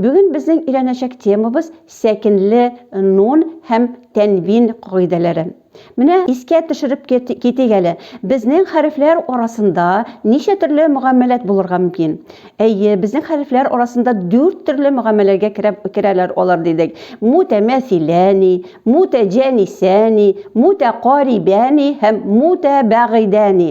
Бүген безнең өйрәнәчәк темабыз сәкенле нун һәм тәнвин кагыйдәләре. Менә искә төшереп китик әле, безнең хәрефләр арасында ничә төрле мөгамәләт булырга мөмкин? Әйе, безнең хәрефләр арасында дүрт төрле мөгамәләгә керәләр алар дидек. Мутәмәсиләни, мутәҗәнисәни, мутәкарибәни һәм мутәбәгыйдәни.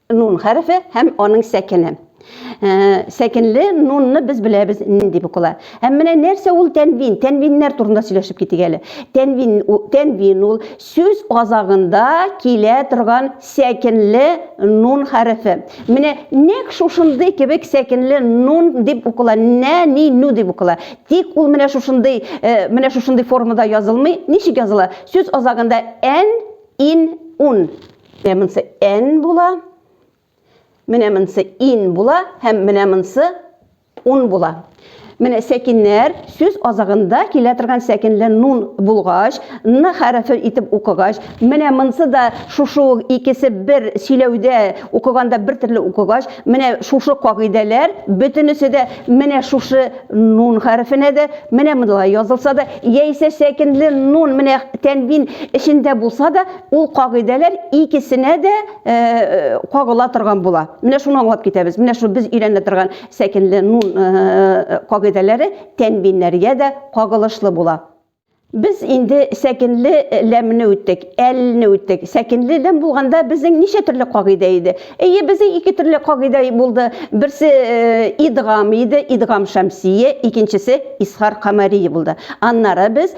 Нун хәрефе һәм аның сәкене. Э, сәкенле нунны без беләбез нинди дип укыла. Һәм менә нәрсә ул тәнвин? Тәнвиннәр турында сөйләшеп китик әле. Тәнвин тәнвин ул сүз азагында килә торган сәкенле нун хәрефе. Менә нәк шушындый кебек сәкенле нун дип укыла. Нә ни ну дип укыла. Тик ул менә шушындый э, менә шушындый формада язылмый. Ничек языла? Сүз азагында н ин ун Менә монысы n була. Менә монысы in була һәм менә монысы un була. Менә сәкиннәр сүз азагында килә торган сәкинле нун булгач, н хәрефе итеп укыгач, менә монысы да шушы ук икесе бер сөйләүдә укыганда бер төрле укыгач, менә шушы кагыйдәләр бөтенесе дә менә шушы нун хәрефенә дә, менә монда язылса да, яисә сәкинле нун менә тәнвин эчендә булса да, Ул кагыйдәләр икесенә дә э, э, кагыла торган була. Менә шуны аңлап китәбез. Менә шул без өйрәнә торган сәкенле нун э, кагыйдәләре тәнбиннәргә дә кагылышлы була. Без инде сәкенле ләмне үттек, әлне үттек. Сәкенле ләм булганда безнең ничә төрле кагыйдә иде? Әйе, безнең ике төрле кагыйдә булды. Берсе идгам иде, идгам шәмсие, икенчесе исхар камарии булды. Аннары без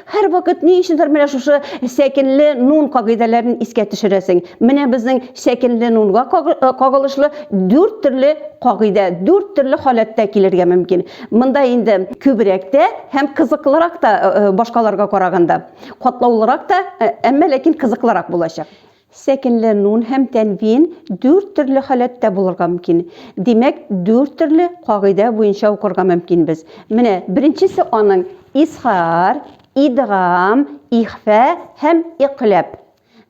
Һәр вакыт ни өчендер менә шушы сәкенле нун кагыйдәләрен искә төшерәсең. Менә безнең сәкенле нунга э, кагылышлы дүрт төрле кагыйдә, дүрт төрле халәттә килергә мөмкин. Монда инде күбрәк тә һәм кызыклырак та э, э, башкаларга караганда, катлаулырак та, әмма ләкин кызыклырак булачак. Сәкенләнүн һәм тәнвин дүрт төрле халәттә булырга мөмкин. Димәк, дүрт төрле кагыйдә буенча укырга мөмкинбез. Менә беренчесе аның изһар, идгам, ихфә һәм икъләб.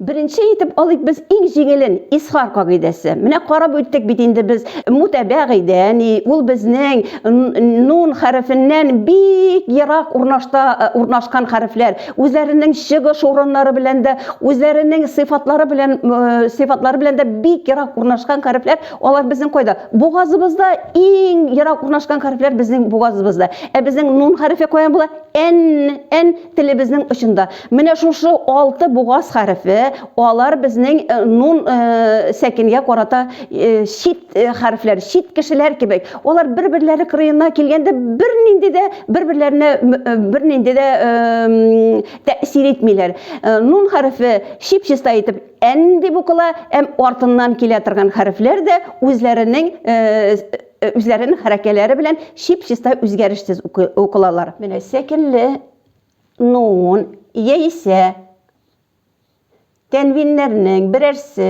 Беренче итеп алыйк без иң җиңелен, изһар кагыйдәсе. Менә карап үттек бит инде без мутәбәгыйдә ни, ул безнең н-нун хәрефеннән бик ерак урнашта урнашкан хәрефләр. үзләренең чыгыш урыннары белән дә, үзләренең сыйфатлары белән э, сыйфатлары белән дә бик ерак урнашкан хәрефләр, алар безнең кайда? Бугазыбызда иң ерак урнашкан хәрефләр безнең бугазыбызда. Ә безнең нун хәрефе каян була? Н, Н телебезнең очында. Менә шушы алты бугаз хәрефе, алар безнең э, нун э, сәкенгә карата чит э, хәрефләр, чит кешеләр кебек. Алар бер-берләре кырыена килгәндә бернинди дә бер-берләренә э, бернинди дә э, тәэсир итмиләр. Нун хәрефе чип-чиста итеп ән дип укыла, әм артыннан килә торган хәрефләр дә үзләренең үзләренең хәрәкәләре белән чип-чиста үзгәрешсез укылалар. Менә сәкенле нун яисә тәнвиннәрнең берәрсе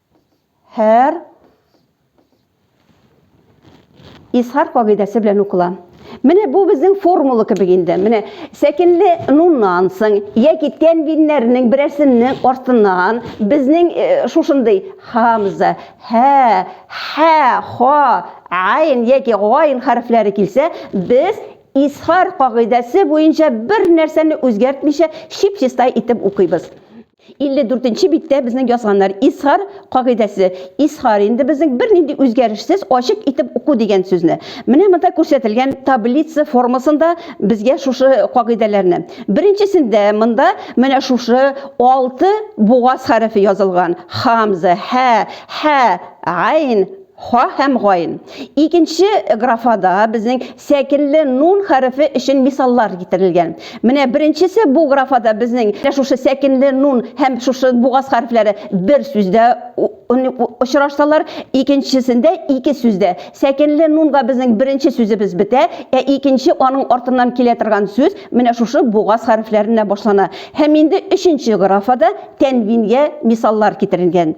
һәр изһар кагыйдәсе белән укыла. Менә бу безнең формула кебек инде. Менә сәкенле нуннан соң яки тәнвиннәрнең берәрсенең артыннан безнең э, шушындый хамза, һә, һә, ха, айн яки гайн хәрефләре килсә, без изһар кагыйдәсе буенча бер нәрсәне үзгәртмичә чип-чистай итеп укыйбыз. 54 нче биттә безнең язганнар исхар кагыйдәсе. Исхар инде безнең бернинди үзгәрешсез ачык итеп уку дигән сүзне. Менә монда күрсәтелгән таблица формасында безгә шушы кагыйдәләрне. Беренчесендә монда менә шушы алты бугаз хәрефе язылган. Хамза, ха, ха, айн, Ха һәм гайн. Икенче графада безнең сәкелле нун хәрефе өчен мисаллар китерелгән. Менә беренчесе бу графада безнең менә шушы сәкенле нун һәм шушы бугаз хәрефләре бер сүздә очрашсалар, икенчесендә ике сүздә. Сәкенле нунга безнең беренче сүзебез бетә, ә икенче аның артыннан килә торган сүз менә шушы бугаз хәрефләренә башлана. Һәм инде өченче графада тәнвингә мисаллар китерелгән.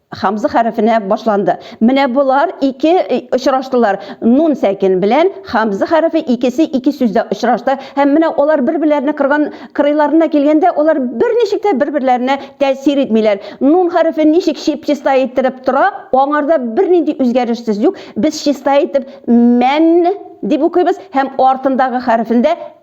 Хамза хәрефенә башланды. Менә болар ике э, очраштылар. Нун сәкин белән хамза хәрефе икесе ике сүздә очрашты. Һәм менә алар бер-берләренә кырган кырыйларына килгәндә, алар берничек тә бер-берләренә тәэсир итмиләр. Нун хәрефе ничек чип-чиста иттереп тора, аңарда бернинди үзгәрешсез юк. Без чиста итеп мән дип укыйбыз һәм артындагы хәрефендә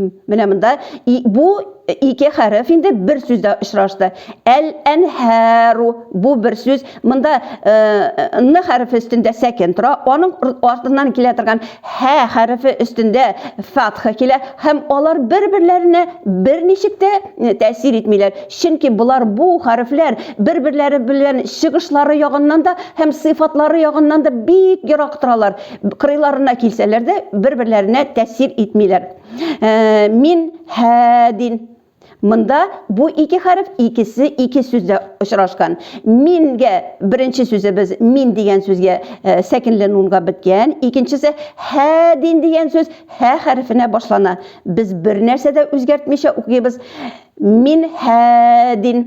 Менә монда бу ике хәреф инде бер сүздә очрашты. Әл-әнһәру бу бер сүз. Монда н хәрефе өстендә сәкен тора. Аның артыннан килә торган һә хәрефе өстендә фатха килә һәм алар бер-берләренә берничек тә тәэсир итмиләр. Чөнки болар бу хәрефләр бер-берләре белән чыгышлары ягыннан да һәм сыйфатлары ягыннан да бик ерак торалар. Кырыйларына килсәләр дә, бер-берләренә тәэсир итмиләр. Э, мин һәдин. Монда бу ике хәреф икесе ике сүздә очрашкан. Мингә беренче сүзебез мин дигән сүзгә э, сәкенле нунга беткән, икенчесе һәдин дигән сүз һә хәрефенә башлана. Без бер нәрсә дә үзгәртмичә укыйбыз. Мин һәдин.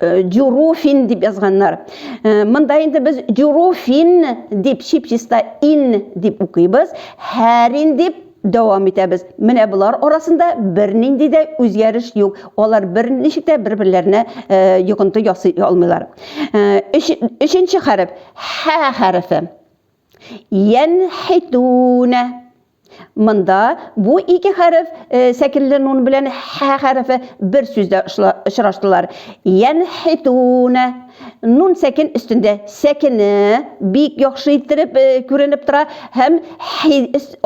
Дюруфин дип язганнар. Монда инде без дюруфин дип чип-чиста ин дип укыйбыз, һәрин дип дәвам итәбез. Менә болар арасында бернинди дә үзгәреш юк. Алар берничек тә бер-берләренә э, йогынты ясый алмыйлар. Э, өченче хәреф хә хәрефе. Янхитуна. Монда бу ике хәреф сәкенле нун белән һә хәрефе бер сүздә очраштылар. Янхитуна. Нун сәкен өстендә сәкене бик яхшы иттереп күренеп тора һәм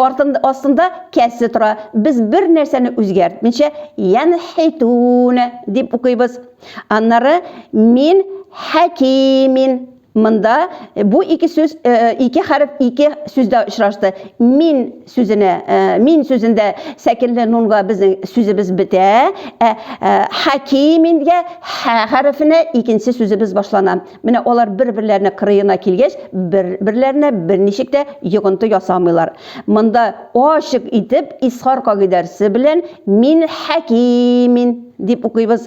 артында астында кәсе тора. Без бер нәрсәне үзгәртмичә янхитуна дип укыйбыз. Аннары мин хәкимин Монда бу ике сүз, ике хәреф ике сүздә очрашты. Мин сүзенә, мин сүзендә сәкенле нунга безнең сүзебез бетә, ә хәкимингә хә хәрефенә икенче сүзебез башлана. Менә алар бер-берләренә кырыена килгәч, бер-берләренә берничек тә йогынты ясамыйлар. Монда ачык итеп исхар кагыйдәрсе белән мин хәкимин дип укыйбыз.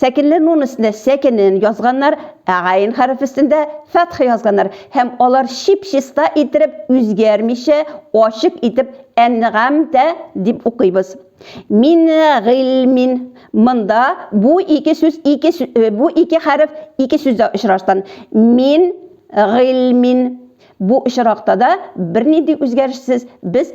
Сәкенле нун өстенә сәкенен язганнар, ә гайн хәреф өстендә фәтх язганнар һәм алар чип-чиста иттереп үзгәрмичә, ачык итеп әнньгамтә дип укыйбыз. Мин гыйльмин. Монда бу ике сүз ике бу ике хәреф ике сүздә очрашкан. Мин гыйльмин. Бу очракта да бернинди үзгәрешсез без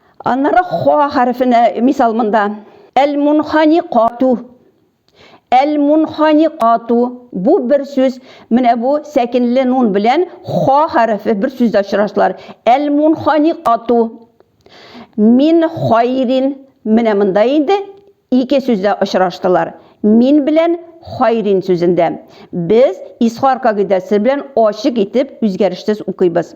Аннары ха хәрефенә мисал монда. Әл-мунханикату. Әл-мунханикату. Бу бер сүз. Менә бу сәкенле нун белән ха хәрефе бер сүздә очрашалар. Әл-мунханикату. Мин хайрин. Менә монда инде ике сүздә очраштылар. Мин белән хайрин сүзендә. Без исхар кагыйдәсе белән ачык итеп үзгәрешсез укыйбыз.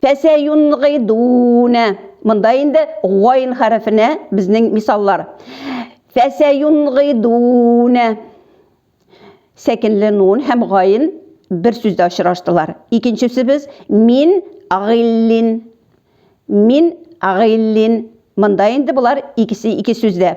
Фәсәюнгидуна. Монда инде гайн хәрефенә безнең мисаллар. Фәсәюнгидуна. Сәкенле нун һәм гайн бер сүздә очраштылар. Икенчесе без мин агиллин. Мин агиллин. Монда инде болар икесе ике сүздә.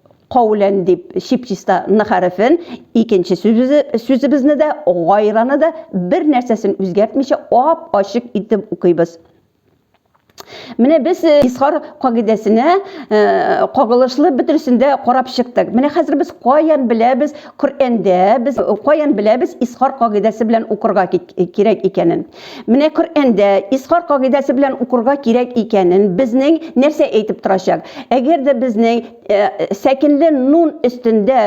каулән дип чип-чиста ны хәрефен, икенче сүзебезне дә, гайраны да бер нәрсәсен үзгәртмичә ап-ачык итеп укыйбыз. Менә без э, исхар кагыйдәсенә э, кагылышлы бөтенесен дә карап чыктык. Менә хәзер без каян беләбез Коръәндә, без каян беләбез исхар кагыйдәсе белән укырга кирәк икәнен. Менә Коръәндә Исхар кагыйдәсе белән укырга кирәк икәнен безнең нәрсә әйтеп торачак? Әгәр дә безнең э, сәкенле нун өстендә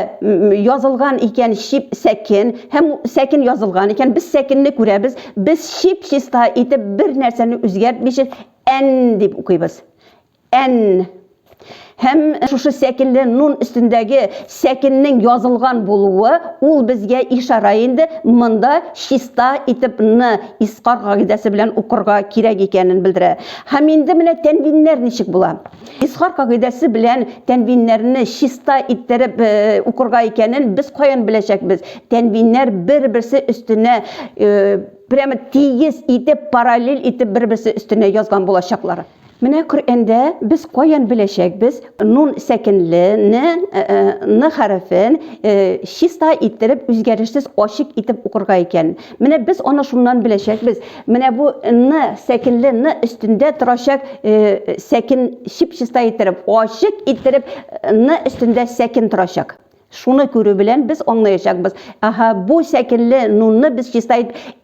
язылган икән чип сәкен һәм сәкен язылган икән, без сәкенне күрәбез, без чип чиста итеп бер нәрсәне үзгәртмичә ән дип укыйбыз. Ән. Һәм шушы сәкенле нун өстендәге сәкеннең язылган булуы, ул безгә ишарә инде, монда чиста итеп ны искар кагыйдәсе белән укырга кирәк икәнен белдерә. Һәм инде менә тәнвиннәр ничек була. Искар кагыйдәсе белән тәнвиннәрне чиста иттереп укырга икәнен без каян беләчәкбез? Тәнвиннәр бер-берсе өстенә прямо тигез итеп, параллель итеп бер-берсе өстенә язган булачаклар. Менә Коръәндә без каян беләчәкбез нун сәкенле не ны хәрефен чиста иттереп үзгәрешсез ачык итеп укырга икән. Менә без аны шуннан беләчәкбез. Менә бу ны сәкенле ны өстендә торачак сәкен чип-чиста иттереп, ачык иттереп ны өстендә сәкен торачак. Шуны күрү белән без аңлаячакбыз. Аһа, бу сәкенле нунны без чиста итеп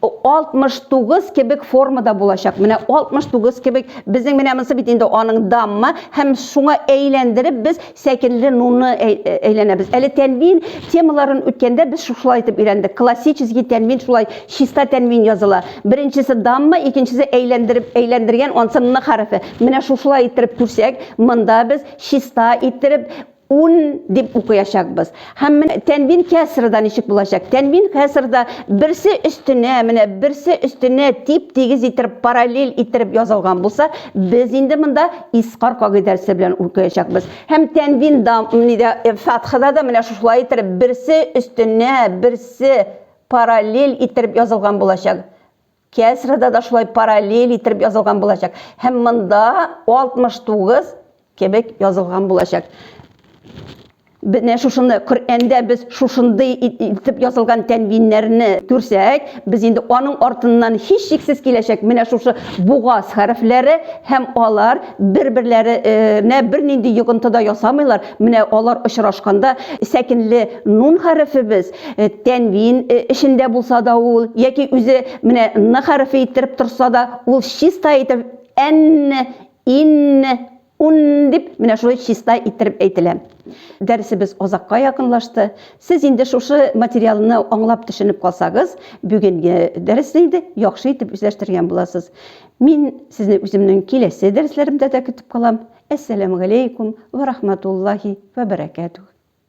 69 кебек формада булачак. Менә 69 кебек безнең менә монысы бит инде аның дамма һәм шуңа әйләндереп без сәкенле нунны әйләнәбез. Әле тәнвин темаларын үткәндә без шушылай итеп өйрәндек. Классический тәнвин шулай чиста тәнвин языла. Беренчесе дамма, икенчесе әйләндереп әйләндергән ансы н хәрефе. Менә шушылай иттереп күрсәк, монда без чиста иттереп Ун дип укыячакбыз. Һәм менә тәнвин кәсрда ничек булачак? Тәнвин кәсрда берсе өстенә, менә берсе өстенә тип-тигез иттереп, параллель иттереп язылган булса, без инде монда искар кагыйдәсе белән укыячакбыз. Һәм тәнвин да, нидә, э, фатхада да менә шушылай иттереп берсе өстенә берсе параллель иттереп язылган булачак. Кәсрәдә дә шулай параллель иттереп язылган булачак. Һәм монда 69 кебек язылган булачак. Менә шушыны Коръәндә без шушындый итеп язылган тәнвиннәрне күрсәк, без инде аның артыннан һичшиксез киләчәк менә шушы бугаз хәрефләре һәм алар бер-берләренә бернинди йогынты да ясамыйлар. Менә алар очрашканда сәкенле нун хәрефебез Э, тәнвин э, эчендә булса да ул, яки үзе менә н хәрефе иттереп торса да, ул чиста итеп ән, ин, ун дип менә шулай чиста иттереп әйтелә. Дәресебез озакка якынлашты. Сез инде шушы материалны аңлап төшенеп калсагыз, бүгенге дәресне инде яхшы итеп үзләштергән буласыз. Мин сезне үземнең киләсе дәресләремдә дә көтеп калам. Әссәламу алейкум ва рахматуллахи ва баракатух.